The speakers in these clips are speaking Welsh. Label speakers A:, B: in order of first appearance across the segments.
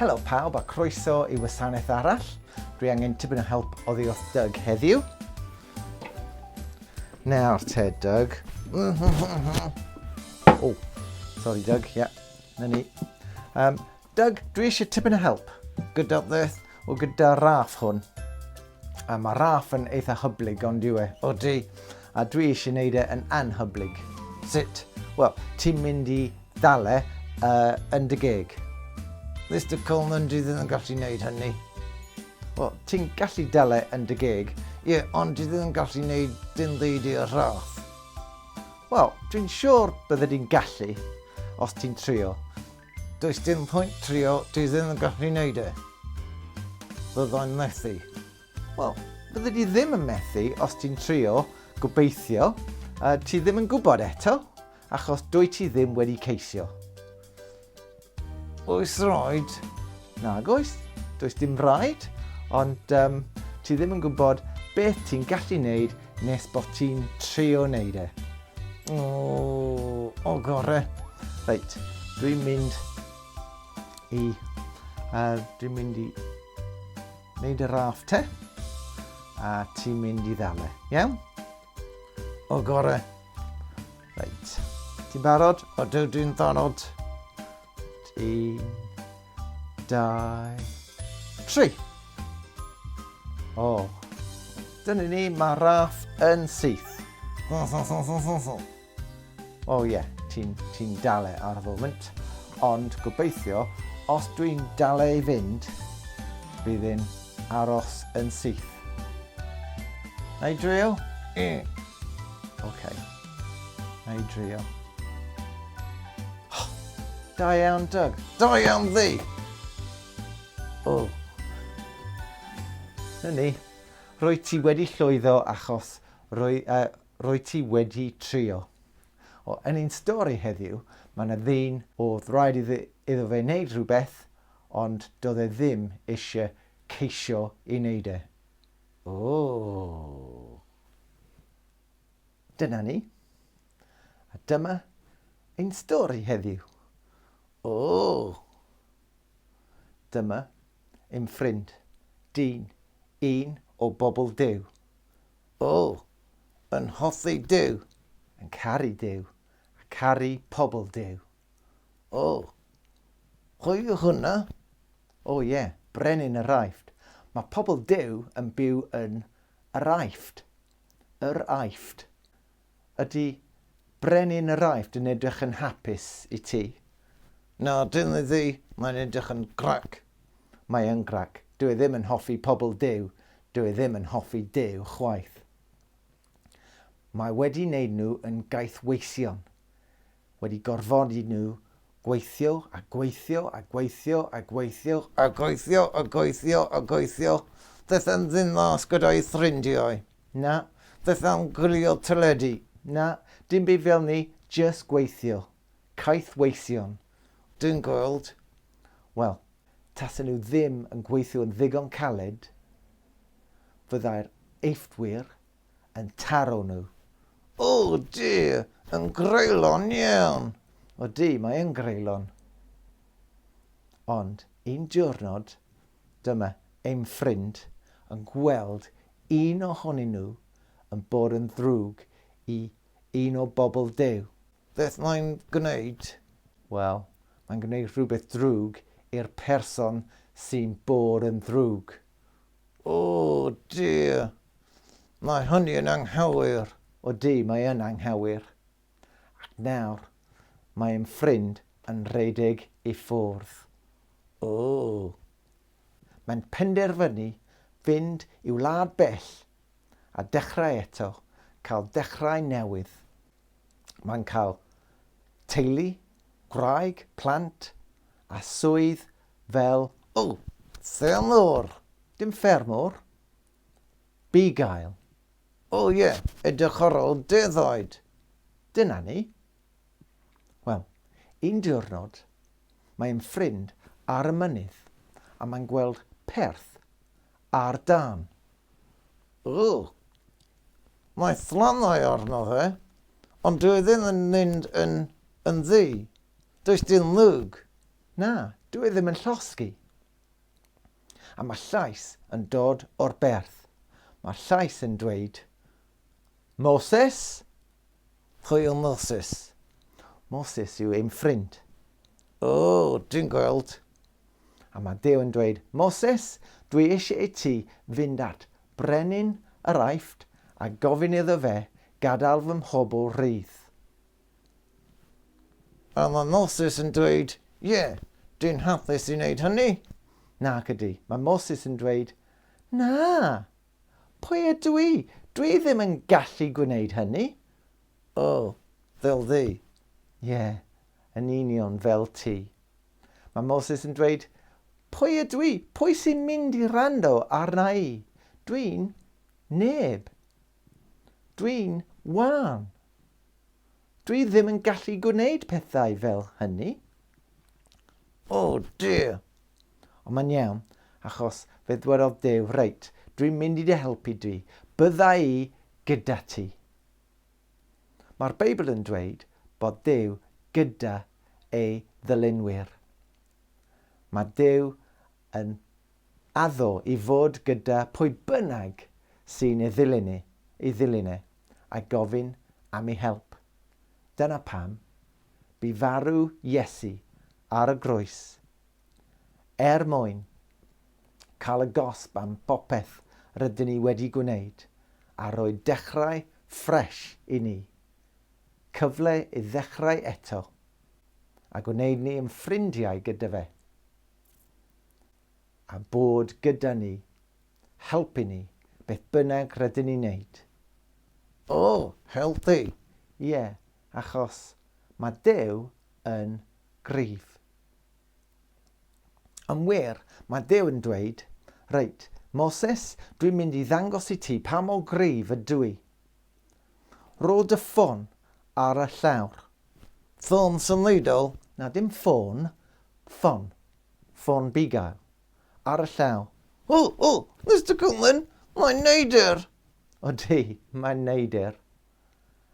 A: Helo pawb a croeso i wasanaeth arall. Dwi angen tipyn o help o ddiolch Doug heddiw. Nawr te, Doug. o, sorry Doug, ia, yeah. na ni. Um, Doug, dwi eisiau tipyn o help gyda beth o gyda Raff hwn. A mae Raff yn eitha hyblyg ond yw e. O di, a dwi eisiau gwneud e yn anhyblyg. Sut? Wel, ti'n mynd i ddale uh, yn dy geg. Mr Coleman, dwi ddim yn gallu gwneud hynny. Wel, ti'n gallu dale yn dy geg. Ie, yeah, ond dwi ddim yn gallu gwneud dim byd i'r Raff. Wel, dwi'n siŵr bydde di'n gallu os ti'n trio. Does dim pwynt trio, ti ddim yn gallu neud e. Byddai'n methu. Wel, bydde di ddim yn methu os ti'n trio, gobeithio, a ti ddim yn gwybod eto, achos dwy ti ddim wedi ceisio. Oes roed? Nag oes, does dim rhaid, ond um, ti ddim yn gwybod beth ti'n gallu neud Nes bod ti'n trio neud e. O, o gore. Reit, dwi'n mynd i... Uh, dwi'n mynd i neud y raff te. A ti'n mynd i ddale. Iawn? O gore. Reit. Ti'n barod? O, dwi'n ddonod. Un, dau, tri. O, dyna ni, mae Raff yn syth. Fo, fo, fo, fo, fo, fo. O ie, yeah, ti'n ti dale ar y foment. Ond gobeithio, os dwi'n dale i fynd, bydd yn aros yn syth. Na i drio? Mm. Okay. Na i drio. Oh, da iawn, Doug. Da iawn, ddi! O. Oh. Na ni. Rwy ti wedi llwyddo achos rwy, uh, rwy ti wedi trio. O, yn ein stori heddiw, mae yna ddyn oedd rhaid iddo, iddo fe wneud rhywbeth, ond doedd e ddim eisiau ceisio i wneud e. O. Dyna ni. A dyma ein stori heddiw. O! Dyma ein ffrind, dyn, un o bobl Duw. O! Yn hoffi Duw, yn caru Duw, a caru pobl Duw. O! Pwy yw hwnna? O ie, yeah, Brenin yr Aifft. Mae pobl Duw yn byw yn yr Aifft. Yr Aifft. Ydy brenin yr Aifft yn edrych yn hapus i ti? Na, dyn ni ddi, mae'n edrych yn grac. Mae yn grac. Dw i ddim yn hoffi pobl Duw, dw i ddim yn hoffi Duw chwaith. Mae wedi neud nhw yn gaethweision. wedi gorfodi nhw gweithio a gweithio a gweithio a gweithio a gweithio a gweithio a gweithio, does am ddim mas gyda'u ffrindiau, na, does am gwylio teledu, na, dim byd fel ni, jyst gweithio, caethweision. Dwi'n gweld, wel, tasen nhw ddim yn gweithio yn ddigon caled, fyddai'r eifftwyr yn taro nhw. O, di yn greulon iawn! O, di, mae yn greulon. Ond un diwrnod, dyma ein ffrind yn gweld un ohonyn nhw yn bod yn ddrwg i un o bobl Duw. Beth mae'n gwneud? Wel, mae'n gwneud rhywbeth drwg i'r person sy'n bod yn ddrwg. O, dear! Mae hynny yn anghywir! O, di, mae yn anghywir! Ac nawr, mae ein ffrind yn rhedeg i ffwrdd. O! Mae'n penderfynu fynd i wlad bell a dechrau eto, cael dechrau newydd. Mae'n cael teulu, gwraig, plant a swydd fel, O! Ffermwr! Dim ffermwr. Bugail. O ie, edrych ar ôl defaid. Dyna ni. Wel, un diwrnod, mae ein ffrind ar y mynydd a mae'n gweld perth ar dân. O! Mae fflannau arno fe, ond dyw e ddim yn mynd yn yn ddu. Does dim mwg. Na, dw i ddim yn llosgi. A mae llais yn dod o'r berth. Mae'r llais yn dweud, Moses? Pwy yw Moses? Moses yw ein ffrind. O, dwi'n gweld. A mae Duw yn dweud, Moses, dwi eisiau i ti fynd at brenin yr Aifft a gofyn iddo fe gadael fy mhobl rydd. A mae Moses yn dweud, Ie, dyn hapus i wneud hynny. Nac ydy. Mae Moses yn dweud, Na! Pwy ydw i? Dw i ddim yn gallu gwneud hynny. O, fel ddu. Ie, yn union fel ti. Mae Moses yn dweud, Pwy ydw i? Pwy sy'n mynd i rando arna i? Dwi'n neb. Dwi'n wan. Dwi ddim yn gallu gwneud pethau fel hynny. Oh dear! Ond mae'n iawn, achos fe ddwedodd Duw, reit, dwi'n mynd i dy helpu di, bydda i gyda ti. Mae'r Beibl yn dweud bod Duw gyda ei ddylunwyr. Mae Duw yn addo i fod gyda pwy bynnag sy'n ei ddilyn e, ei ddilyn e, a gofyn am ei help. Dyna pam bu farw Iesu ar y groes, er mwyn cael y gosb am bopeth rydyn ni wedi gwneud a rhoi dechrau ffresh i ni, cyfle i ddechrau eto, a gwneud ni yn ffrindiau gyda fe. a bod gyda ni, helpu ni, beth bynnag rydyn ni'n neud. O, helpu! Ie, achos mae Duw yn gryf. Yn wir, mae Duw yn dweud, Reit, Moses, dwi'n mynd i ddangos i ti pa mor gryf ydw i. Rho dy ffôn ar y llawr. Ffôn symudol? Na, dim ffôn, ffon. Ffôn bugail. Ar y llaw. O! O! Mister Cullen! Mae'n neidr! Odi, mae'n neidr.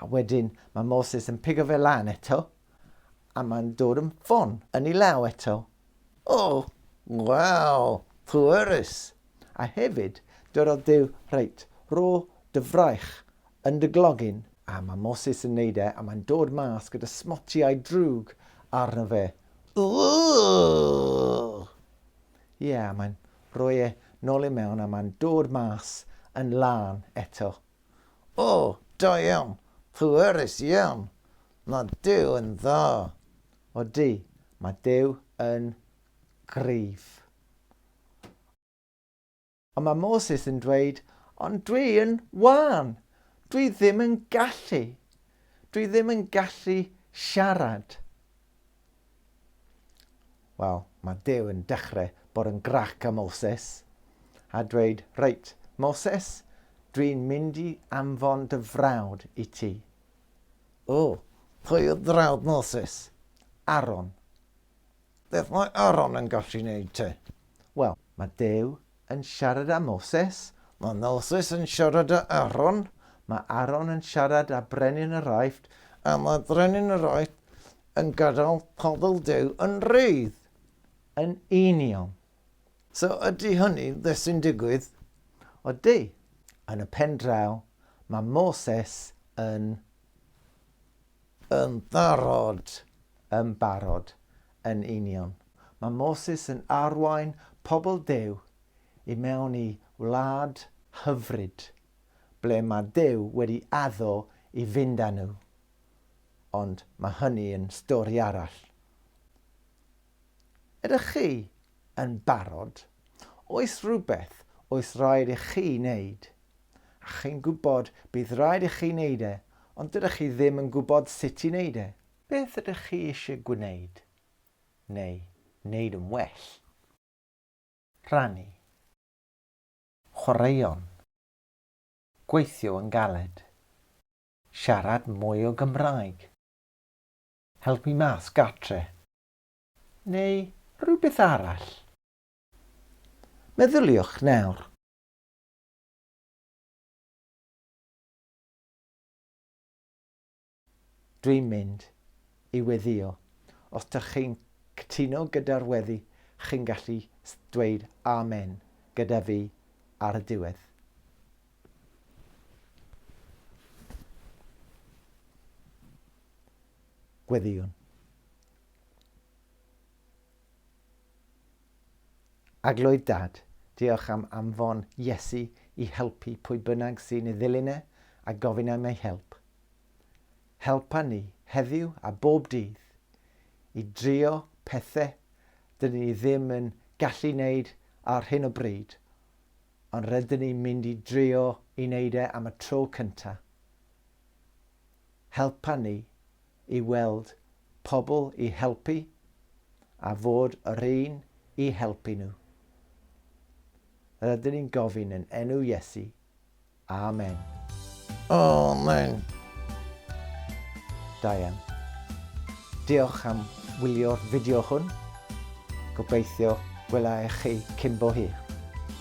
A: A wedyn mae Moses yn pigo fe lan eto, a mae'n dod yn ffon yn ei law eto. O! Waw! Pwerus! A hefyd, dyrodd Duw, Reit, rho dy fraich yn dy glogyn. A mae Moses yn neud e, a mae'n dod mas gyda smotiau drwg arno fe. Ugh! Ie, a mae'n rhoi e nôl i mewn a mae'n dod mas yn lân eto. O, da iawn! Pwerus iawn! Mae Duw yn dda! Odi, mae Duw yn gryf. Ond mae Moses yn dweud, ond dwi yn wân, dwi ddim yn gallu, dwi ddim yn gallu siarad. Wel, mae Dew yn dechrau bod yn grac â Moses a dweud, reit, Moses, dwi'n mynd i anfon dy frawd i ti. O, pwy oedd frawd Moses? Aron. Beth mae Aaron yn gallu neud te? Wel, mae Duw yn siarad â Moses. Mae Moses yn siarad â Aaron. Mae Aaron yn siarad â brenin yr Aifft. A mae brenin yr Aifft yn gadael pobl Duw yn rhydd. Yn union. So ydy hynny beth sy'n digwydd? Ydy. Yn y pen draw, mae Moses yn Yn barod! Yn barod! Yn union. Mae Moses yn arwain pobl Duw i mewn i wlad hyfryd, ble mae Duw wedi addo i fynd â nhw. Ond mae hynny yn stori arall. Ydych chi yn barod? Oes rhywbeth oes raid i chi wneud A chi'n gwybod, bydd rhaid i chi wneud e, ond dydych chi ddim yn gwybod sut i wneud e. Beth ydych chi eisiau gwneud, neu wneud yn well? Rhannu. Chwaraeon. Gweithio yn galed. Siarad mwy o Gymraeg. Helpu mas gartre. Neu rhywbeth arall. Meddyliwch nawr. Dwi'n mynd i weddïo. Os dych chi'n cytuno gyda'r weddi, chi'n gallu dweud Amen gyda fi ar y diwedd. Gweddïwn. Arglwydd Dad, diolch am anfon Iesu i helpu pwy bynnag sy'n ei ddilyn e a gofyn am ei help. Helpa ni, heddiw a bob dydd, i drio pethe dydyn ni ddim yn gallu wneud ar hyn o bryd, ond rydyn ni'n mynd i drio i wneud e am y tro cynta. helpa ni i weld pobl i helpu a fod yr un i helpu nhw. Rydyn ni'n gofyn yn enw Iesu. Amen. Amen. Da iawn. Diolch am wylio'r fideo hwn. Gobeithio gwela i chi cyn bo hir.